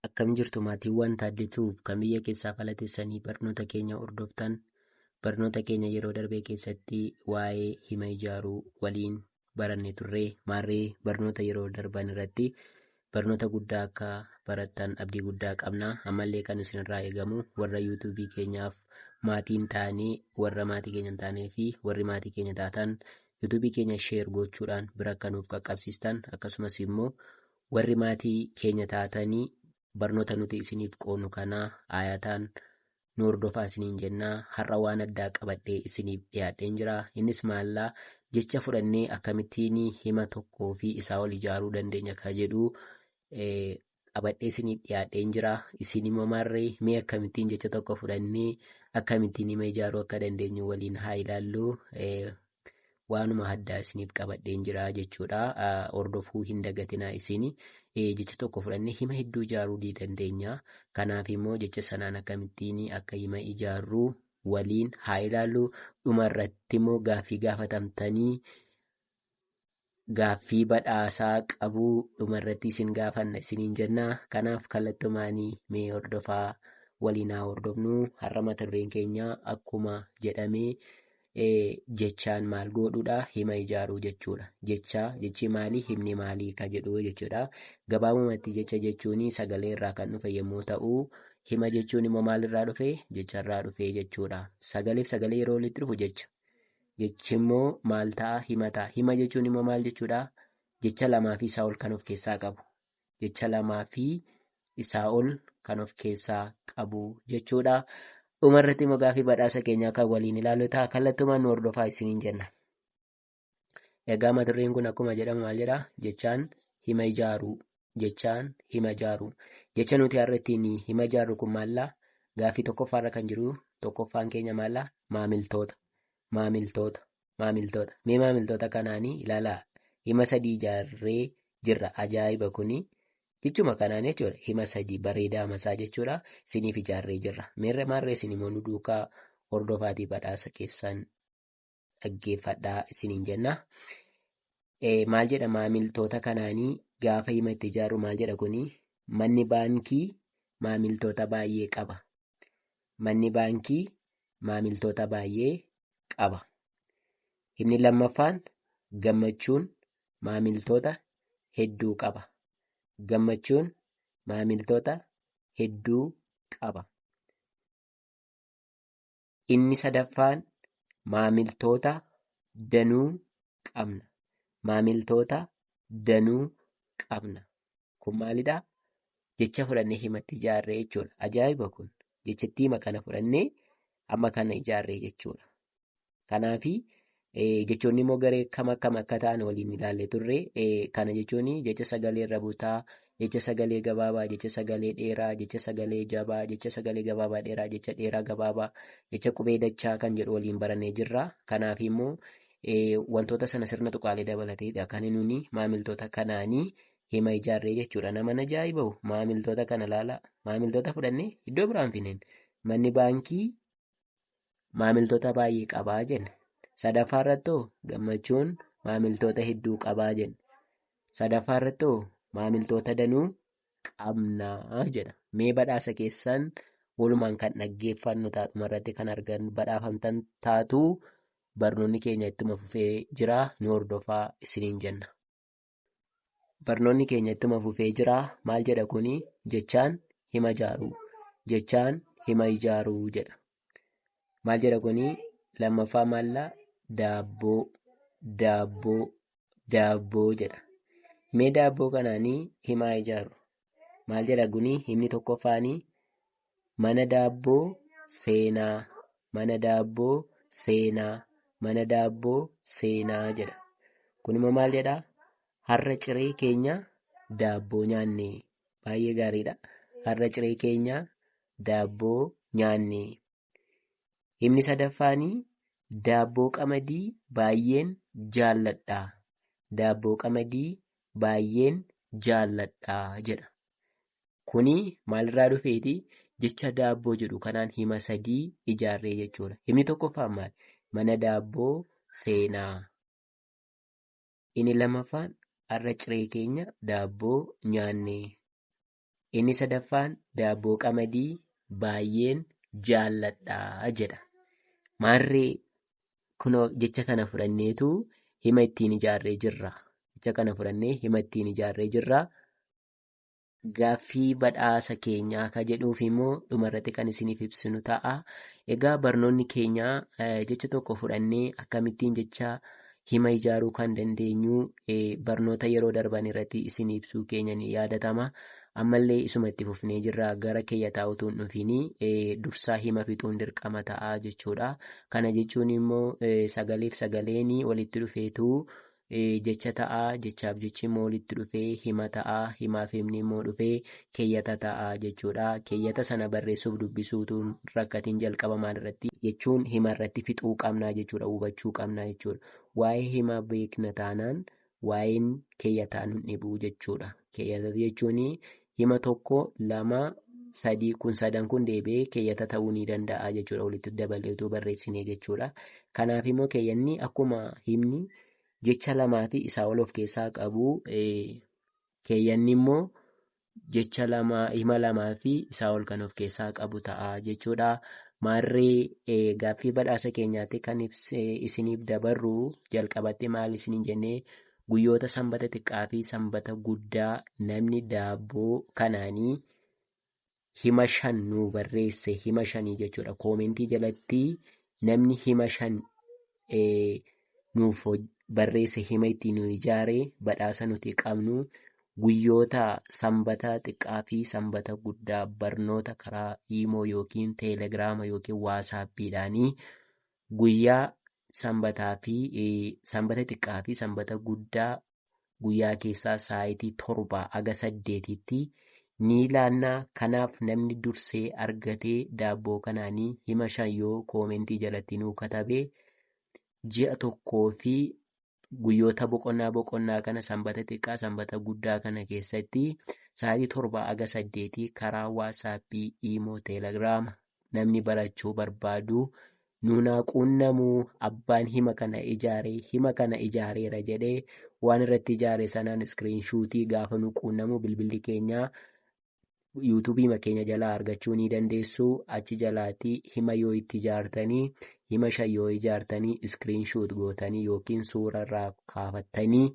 Akkam jirtu maatiiwwan Taaddee Tube kan biyya keessaa fala teessanii barnoota keenya hordoftan barnoota keenya yeroo darbee keessatti waa'ee hima ijaaruu waliin baranne turre maarree barnoota yeroo darban irratti barnoota guddaa akka barattan abdii guddaa qabna ammallee kan isinirraa eegamu warra yuutuubii keenyaaf maatiin taane warra maatii keenya hin taanee fi warri maatii keenya taatan yuutuubii keenya sheer gochuudhaan bira akka nuuf qaqqabsiistan akkasumas immoo Warri maatii keenya taatanii barnoota nuti isiniif qoonu kana aayataan nu hordofaa isiniin jenna. Har'a waan addaa qabadhee isiniif dhiyaadheen jira. Innis maallaa jecha fudhannee akkamittiin hima tokkoo fi isaa ol ijaaruu dandeenya ka jedhu qabadhee isiniif dhiyaadheen jira. Isin immoo maarree mee akkamittiin jecha tokko fudhannee akkamittiin hima ijaaruu akka dandeenyu waliin haa ilaallu. waanuma addaa isiniif qabadheen jira jechuudha. Hordofuu hin dagatinaa isin jecha tokko fudhannee hima hedduu ijaaruu ni dandeenya. Kanaaf immoo jecha sanaan akkamittiin akka hima ijaarru waliin haa ilaallu. Dhuma irratti immoo gaaffii gaafatamtanii gaaffii badhaasaa qabuu dhuma irratti isin gaafanna isiniin jenna. Kanaaf kallattumaanii mee hordofaa waliin haa hordofnu. Har'a mata dureen keenya akkuma jedhame jechaan maal goodhuudha hima ijaaruu jechuudha. Jecha jechi maalii himni maalii ka jedhu jechuudha. Gabaabumatti jecha jechuun sagalee irraa kan dhufe yommuu ta'u hima jechuun immoo maalirraa dhufe jecharraa dhufe jechuudha. Sagaleef sagalee yeroo walitti dhufu jecha Jechi immoo maal ta'a? Hima ta'a. Hima jechuun immoo maal jechuudha? Jecha lamaa fi isaa ol kan of keessaa qabu. Jecha lamaa fi isaa ol kan of keessaa qabu jechuudha. Dhuma irratti immoo gaaffii badhaasa keenyaa kan waliin ilaalu ta'a. Kallattumaan nu hordofaa isiniin jenna. Egaa mata dureen kun akkuma jedhamu maal jedha? Jechaan hima ijaaruu. jechaan hima jaaruu. Jecha nuti har'a ittiin hima jaarru kun maallaa gaaffii tokkoffaarra kan jiru tokkoffaan keenya maallaa maamiltoota. Maamiltoota. Maamiltoota. Mee maamiltoota kanaanii ilaalaa hima sadii ijaarree jirra. Ajaa'iba kuni jechuma kanaan jechuudha. Hima sadii bareedaa masaa jechuudha. Isiniif ijaarree jirra. Meerre maarree isin immoo nu duukaa hordofaatii badhaasa keessan dhaggeeffadhaa isiniin jenna. Eh, Maal jedha maamiltoota kanaanii gaafa hima itti ijaarru maal jedha kuni manni baankii maamiltoota baay'ee qaba. Manni baankii maamiltoota baay'ee qaba. Inni lammaffaan gammachuun maamiltoota hedduu qaba. Gammachuun maamiltoota hedduu qaba. Inni sadaffaan maamiltoota danuu qabna. Maamiltoota danuu qabna. Kun maalidha? Jecha fudhannee himatti ijaarree jechuudha. Ajaa'iba kun. Jechattiima kana fudhannee amma kana ijaarree jechuudha. Kanaafi Jechoonni immoo garee kam akkam akka ta'an waliin ilaallee turre. Kana jechuun jecha sagalee irra butaa, jecha sagalee gabaabaa, jecha sagalee dheeraa, jecha sagalee jabaa, jecha sagalee gabaabaa dheeraa, jecha dheeraa gabaabaa, jecha qubee dachaa kan jedhu waliin barannee jirra. Kanaaf immoo wantoota sana sirna tuqaalee dabalateedha. Kan nuti maamiltoota kanaanii hima ijaarree jechuudha. Nama na jaa'ibahu maamiltoota kana laala. Maamiltoota fudhannee iddoo biraan fineen manni baankii maamiltoota baay'ee qabaa jenne. Sadaffaa irratti hoo gammachuun maamiltoota hedduu qabaa jenne. Sadaffaa irratti hoo maamiltoota danuu qabnaa jedha. Mee badhaasa keessan walumaan kan dhaggeeffannu ta'a dhuma irratti kan argan badhaafamtan taatu barnoonni keenya ittuma fufee jira nu hordofaa isiniin jenna. barnoonni keenya ittuma fufee jira maal jedha kuni jechaan hima ijaaruu jechaan hima ijaaruu jedha maal jedha kuni lammaffaa maalla daabboo daabboo daabboo jedha mee daabboo kanaanii himaa ijaaru maal jedha guni himni tokkoffaanii mana daabboo seenaa mana daabboo seenaa mana daabboo seenaa jedha kun immoo maal jedha har'a ciree keenya daabboo nyaanne baay'ee gaariidha har'a ciree keenya daabboo nyaanne Himni sadaffaanii daabboo qamadii baay'een jaalladha. Daabboo qamadii baay'een jaalladha jedha. Kuni maalirraa dhufeeti? Jecha daabboo jedhu kanaan hima sadii ijaarree jechuudha. Himni tokkoffaan maal? Mana daabboo seenaa. Inni lammaffaan har'a ciree keenya daabboo nyaannee. Inni sadaffaan daabboo qamadii baay'een jaalladha jedha. Maarree kunoo jecha kana fudhanneetu hima ittiin ijaarree jirra. Jecha kana fudhannee hima ittiin ijaarree jirra. Gaaffii badhaasa keenyaa ka jedhuuf immoo dhumarratti kan isiniif ibsinu ta'a. Egaa barnoonni keenyaa eh, jecha tokko fudhannee akkamittiin jecha hima ijaaruu kan dandeenyu barnoota yeroo darban irratti isin ibsuu keenya ni yaadatama. Ammallee isuma itti fufnee jirra gara keeyyataa utuu hin dhufiin dursaa hima fixuun dirqama ta'a jechuudha. Kana jechuun immoo sagaleef sagaleen walitti dhufeetu jecha ta'a jechaaf jechi immoo walitti dhufee hima ta'a himaaf himni immoo dhufee keeyyata ta'a jechuudha. Keeyyata sana barreessuuf dubbisuutuun rakkatiin jalqaba maalirratti jechuun himarratti fixuu qabnaa jechuudha hubachuu qabnaa jechuudha. Waa'ee himaa beekna taanaan waa'een keeyyataa nun dhibuu jechuudha. Keeyyata jechuun hima tokko lama sadii kun sadan kun deebi'ee keeyyata ta'uu ni danda'a jechuudha walitti dabaleetuu barreessinee jechuudha. Kanaaf immoo keeyyanni akkuma himni jecha lamaatii isaa ol of keessaa qabu Keeyyanni immoo jecha lama hima lamaa fi isaa ol kan of keessaa qabu ta'a jechuudha. Maarree eh, gaaffii badhaasa keenyaatti kan ibs- eh, isiniif dabarru jalqabatti maal isiniin jennee guyyoota sanbata xiqqaa fi sanbata guddaa namni daabboo kanaanii hima shan nuu barreesse hima shanii jechuudha koomentii jalatti namni hima shan eh, nuuf hoj- barreesse hima itti nu ijaare badhaasa nuti qabnu guyyoota sanbata xiqqaa fi sanbata guddaa barnoota karaa iimoo yookiin teelegiraama yookiin waasaappiidhaanii guyyaa sanbataa fi eh, sanbata xiqqaa fi sanbata guddaa guyyaa keessaa saayitii torbaa aga saddeetiitti ni laannaa kanaaf namni dursee argatee daabboo kanaanii hima shan yoo koomentii jalatti nuu katabee ji'a tokkoo fi guyyoota boqonnaa boqonnaa kana sanbata xiqqaa sanbata guddaa kana keessatti saayitii torbaa aga saddeetii karaa waasaappii iimoo teelegiraama namni barachuu barbaadu nuunaa quunnamuu abbaan hima kana ijaare hima kana ijaareera jedhee waan irratti ijaare sanaan iskiriin shuutii gaafa nu quunnamu bilbilli keenya yuutuubiima keenya jalaa argachuu ni dandeessu achi jalaati hima yoo itti ijaartanii hima shan yoo ijaartanii iskiriin shuut gootanii yookiin suura irraa kaafattanii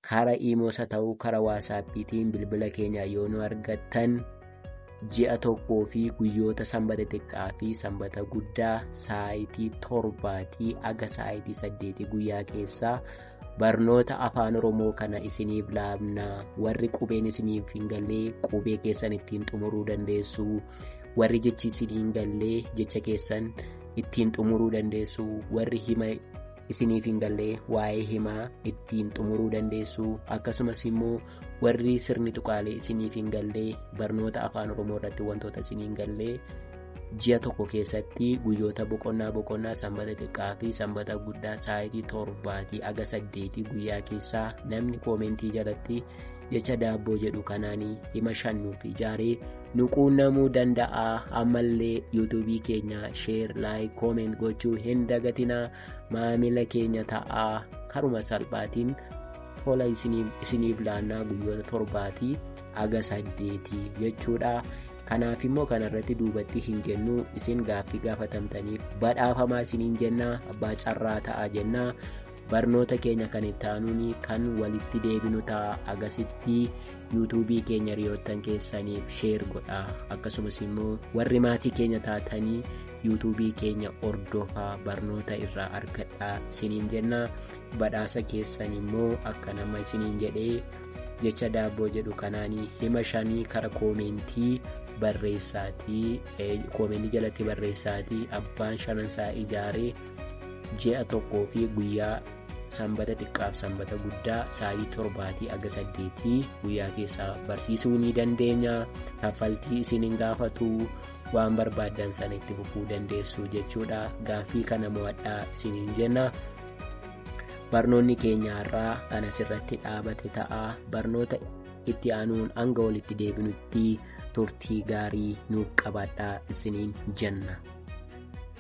kara iimoos haa ta'uu kara waasaappiitiin bilbila keenya yoo nu argattan ji'a tokkoo fi guyyoota sanbata xiqqaa fi sanbata guddaa saayitii torbaatii aga saayitii saddeetii guyyaa keessaa barnoota afaan oromoo kana isiniif laabna warri qubeen isiniif hin gallee qubee keessan ittiin xumuruu dandeessu warri jechi isin hin gallee jecha keessan ittiin xumuruu dandeessu warri hima isiniif hin galle waa'ee himaa ittiin xumuruu dandeessu akkasumas immoo warri sirni tuqaalee isiniif hin galle barnoota afaan oromoo irratti wantoota isin hin galle ji'a tokko keessatti guyyoota boqonnaa boqonnaa sanbata xiqqaa fi sanbata guddaa sa'aatii torbaatii aga saddeetii guyyaa keessaa namni koomentii jalatti jecha daabboo jedhu kanaanii hima shannuu fi jaaree nu quunnamuu danda'a ammallee yuutuubii keenya sheer laayik kooment gochuu hin dagatinaa maamila keenya ta'aa karuma salphaatiin tola isiniif laannaa guyyoota torbaatii haga saddeetii jechuudha kanaaf immoo kanarratti duubatti hin jennuu isin gaaffii gaafatamtaniif badhaafamaa isiniin jennaa abbaa carraa ta'aa jennaa Barnoota keenya kan itti aanuun kan walitti deebinu ta'a agasitti yuutuubii keenya hiriyoottan keessaniif sheer godha akkasumas immoo warri maatii keenya taatanii yuutuubii keenya hordofaa barnoota irraa argadhaa isiniin jenna badhaasa keessan immoo akka nama isiniin jedhee jecha daabboo jedhu kanaanii hima shanii kara koomeentii barreessaatii koomeentii jalatti barreessaatii abbaan shanansaa ijaaree ji'a tokkoo fi guyyaa sanbata xiqqaaf sanbata guddaa sa'aatii torbaatii aga saddeetii guyyaa keessaa barsiisuu ni dandeenya kaffaltii isin hin gaafatu waan barbaaddan sana itti fufuu dandeessu jechuudha gaaffii kana mo'adhaa isiniin jenna barnoonni keenya har'aa kan asirratti dhaabate ta'a barnoota itti aanuun hanga walitti deebinutti turtii gaarii nuuf qabaadhaa isiniin jenna.